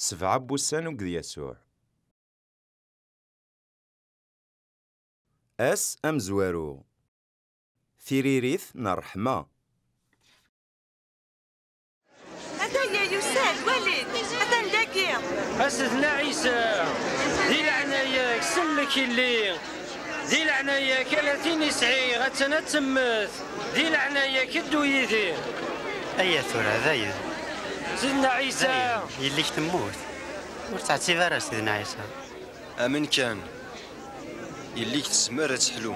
Sebɛa n wussan ugged Yasuɛ. Ass amezwaru. Tiririt n ṛṛeḥma. Ataya yusa-d, wali-t, atan dagi. A Sedna Ɛisa, di leɛnaya-k sellek i lli. Di leɛnaya-k ala tin i sɛiɣ attan ad temmet, di leɛnaya-k ddu yid-i. Aya tura dayen. Sidna Ɛisa. Dayen, yelli-k temmut. Ur ttɛettib ara a Sidna Ɛisa. Amen kan, yelli-k tezmer ad teḥlu.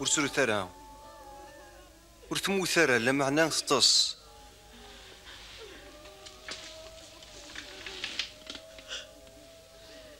ur srut ara ur temmut ara lameɛna teṭṭes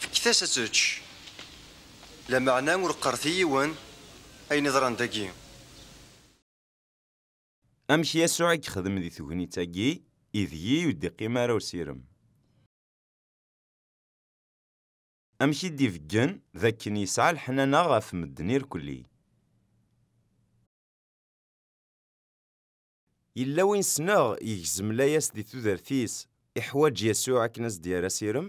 Fket-as ad tečč. Lameɛna ur qqaret i yiwen ayen iḍran dagi. Amek Yasuɛ i yexdem di tegnit-agi ideg-i ur d-iqqim ara usirem? Amek i d-ibeggen d akken yesɛa leḥnana ɣef medden irkelli? Yella win sneɣ yegzem layas di tudert-is, iḥwaǧ Yasuɛ akken as d-yerr asirem?